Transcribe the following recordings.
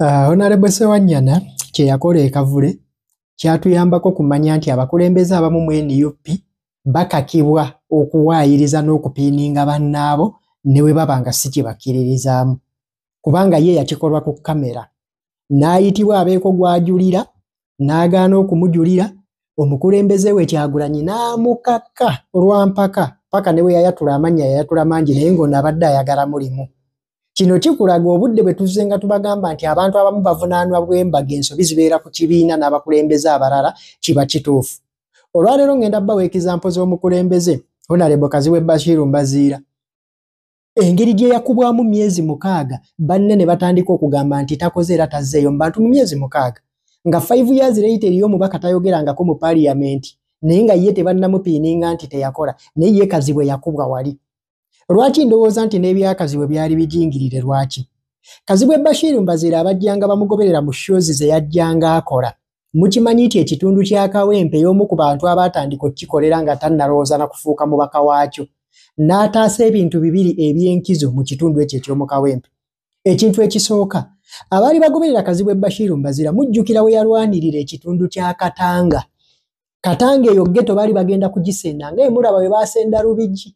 Uh, Honorable Sewanyana kye yakola ekavule kyatuyambako kumanya nti abakulembeze abamu mu NUP bakakibwa okuwaayiriza n'okupiininga bannaabo ne bwe baba nga si kye bakkiririzaamu kubanga ye yakikolwa ku kamera n'ayitibwa abeeko gw'ajulira n'agaana okumujulira omukulembeze we kyagulanyi n'amukakka olwampaka paka ne bwe yayatula amannya yayatula mangi naye ng'ono abadde ayagala mulimu kino kikulaga obudde bwe tuzze nga tubagamba nti abantu abamu bavunaanwa bwembaga ensobi zibeera ku kibiina n'abakulembeze abalala kiba kituufu olwaleero ng'enda bawa ekizampo z'omukulembeze honalebo kaziwe bashiru mbaziira engeri gye yakubwamu myezi mukaaga banne ne batandika okugamba nti takoze era tazzeeyo mu bantu mu myezi mukaaga nga five years later eriyo omubaka tayogerangako mu paliyamenti naye nga ye tebannamupiininga nti teyakola naye ye kazibwe yakubwa wali lwaki ndowooza nti n'ebyakazibwe byali bijingirire lwaki kazibwe bashiiru mbaziira abajjanga bamugoberera mu shozi ze yajjanga akola mukimanyi nti ekitundu kya kawempe y'omu ku bantu abaatandika okukikolera nga tannalowooza na kufuuka mubaka waakyo n'ataasa ebintu bibiri eby'enkizo mu kitundu ekyo eky'omu kawempe ekintu ekisooka abaali bagoberera kazibwe bashiiru mbazira mujjukira we yalwanirira ekitundu kya katanga katanga eyo geto baali bagenda kugisenda nga emulaba we baasenda lubigi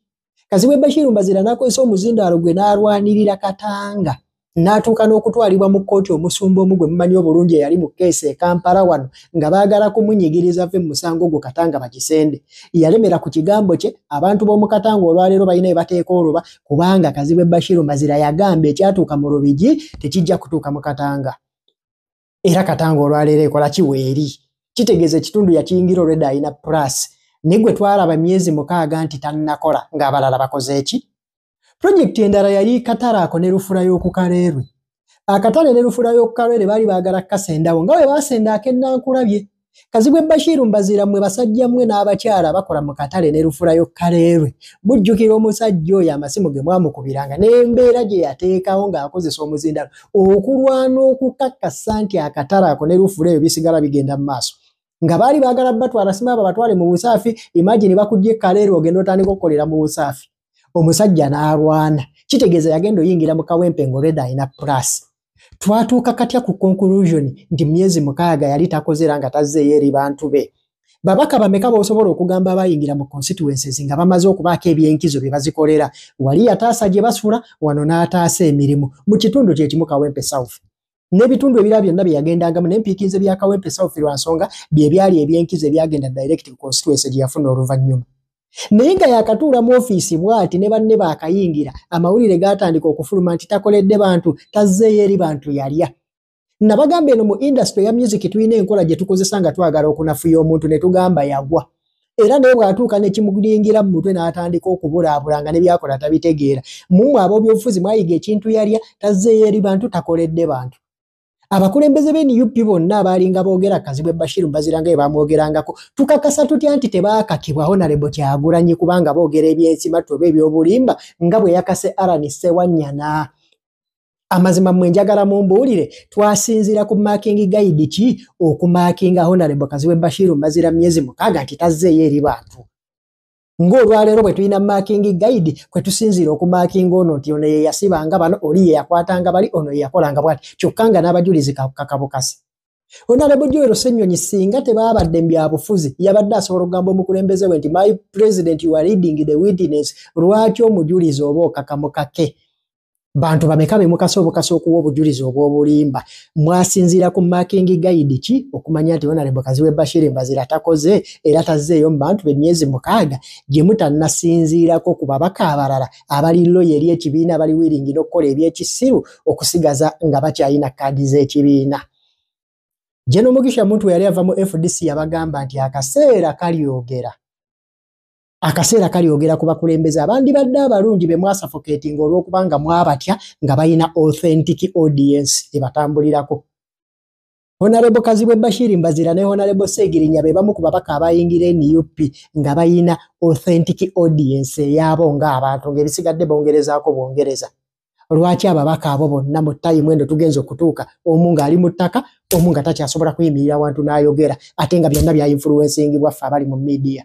kazibwe bashiru mbazira nakozesa omuzindaalo gwe n'alwanirira katanga n'atuuka n'okutwalibwa mu kkooti omusumba omu gwe mumanyi obulungi eyali mu keesi e kampala wano nga baagala kumunyigiriza ve mu musango ogwo katanga bakisende yalemera ku kigambo kye abantu b'omu katanga olwaleero balina ebateeka oluba kubanga kazibwe bashiru mbazira yagamba ekyatuuka mu lubigi tekijja kutuuka mu katanga era katanga olwaleero ekola kiweeri kitegeeza ekitundu yakiyingira olwedda alina plus ne gwe twalaba myezi mukaaga nti tannakola ng'abalala bakoze eki pulojekiti endala yali katale ako ne lufula y'okukaleerwe akatale ne lufula y'okukaleerwe baali baagala kukasendawo nga bwe baasenda ak'ennankulabye Kazibwe Bashiru mbazira mwe basajja mwe n'abakyala bakola mu katale ne lufurayo kaleerwe mujjukira omusajja oyo amasimu ge mwamukubiranga n'embeera gye yateekawo ng'akozesa omuzindalo okulwana okukakasa nti akatale ako ne lufura eyo bisigala bigenda mu maaso nga baali baagala batwala sima abo batwale mu busaafi imagini bakujja ekkaleerwe ogenda otandika okukolera mu busaafi omusajja n'alwana kitegeeza yagenda oyingira mu kawempe ng'olwedda alina pulaasi twatuuka katya ku conclusion nti myezi mukaaga yali takoze era nga tazzeeyo eri bantu be babaka bameka bosobola okugamba abayingira mu constituencies nga bamaze okubaako ebyenkizo bye bazikolera wali yataasa gye basula wano n'ataasa emirimu mu kitundu kyekimu kawempe south n'ebitundu ebira byonna bye yagendangamu n'empiikinze bya kawempe south lwa nsonga bye byali ebyenkizo ebyagenda direct ku constituency gye yafuna oluvannyuma naye nga yakatuula mu ofiisi bwati ne banne baakayingira amawulire gaatandika okufuluma nti takoledde bantu tazzeeyo eri bantu yalya nabagamba eno mu indasitule ya musiki tulina enkola gye tukozesa nga twagala okunafuya omuntu ne tugamba yagwa era naye bw'atuuka nekimuyingira mu mutwe n'atandika okubulaabula nga ne byakola tabitegeera mumwe ab'obyobufuzi mwayiga ekintu yalya tazzeeyo eri bantu takoledde bantu abakulembeze be nup bonna abaalinga boogera kazibwe bashiru mbaziranga ye bamwogerangako tukakasa tutya nti tebaakakibwa honarebo kyagulanyi kubanga boogera ebyensimatu oba ebyobulimba nga bwe yakase aran sewanyana amazima mwe njagala mumbuulire twasinziira ku making guide ki okumakinga honarebo kazibwe bashiru mbazira myezi mukaaga nti tazzeeyo eri bantu ng'olwaleero bwe tulina maakingi guide kwe tusinziira okumaakinga ono nti ono ye yasibanga bano oli ye yakwatanga bali ono ye yakolanga bwati kyokka nga n'abajulizi kakabukasi onalebo joero senyonyi singa tebaabadde mubyabufuzi yabadde asobola okugamba omukulembeze we nti my president you are reading the witness lwaki omujulizi oba okakamukake bantu bameka bemukasa obukasa okuwa obujulizi obwobulimba mwasinziira ku making guide ki okumanya nti onarebo kaziwe bashiri mbazira takoze era tazzeeyo mu bantu bemyezi mukaaga gye mutanasinziirako ku babaka abalala abali loya eri ekibiina abali wiringi n'okukola ebyekisiru okusigaza nga bakyalina kaadi z'ekibiina jenomugisha muntu yali ava mu fdc yabagamba nti akaseera kalyogera akaseera kalyogera ku bakulembeze abandibadde abalungi be mwasafoketinga olw'okubanga mwabatya nga balina authentic audience ebatambulirako honarebo kazibwe bashiri mbazira ne honarebo segirinya be bamu ku babaka abayingira nup nga balina authentic audience eyaabo ng'abantu ng'ebisigadde bongerezaako bwongereza lwaki ababaka abo bonna mu tayimu endo tugenza okutuuka omu ng'ali mu ttaka omu nga takyasobola kuyimirira wantu n'ayogera ate nga byonna bya influensingi bwaffe abali mu midiya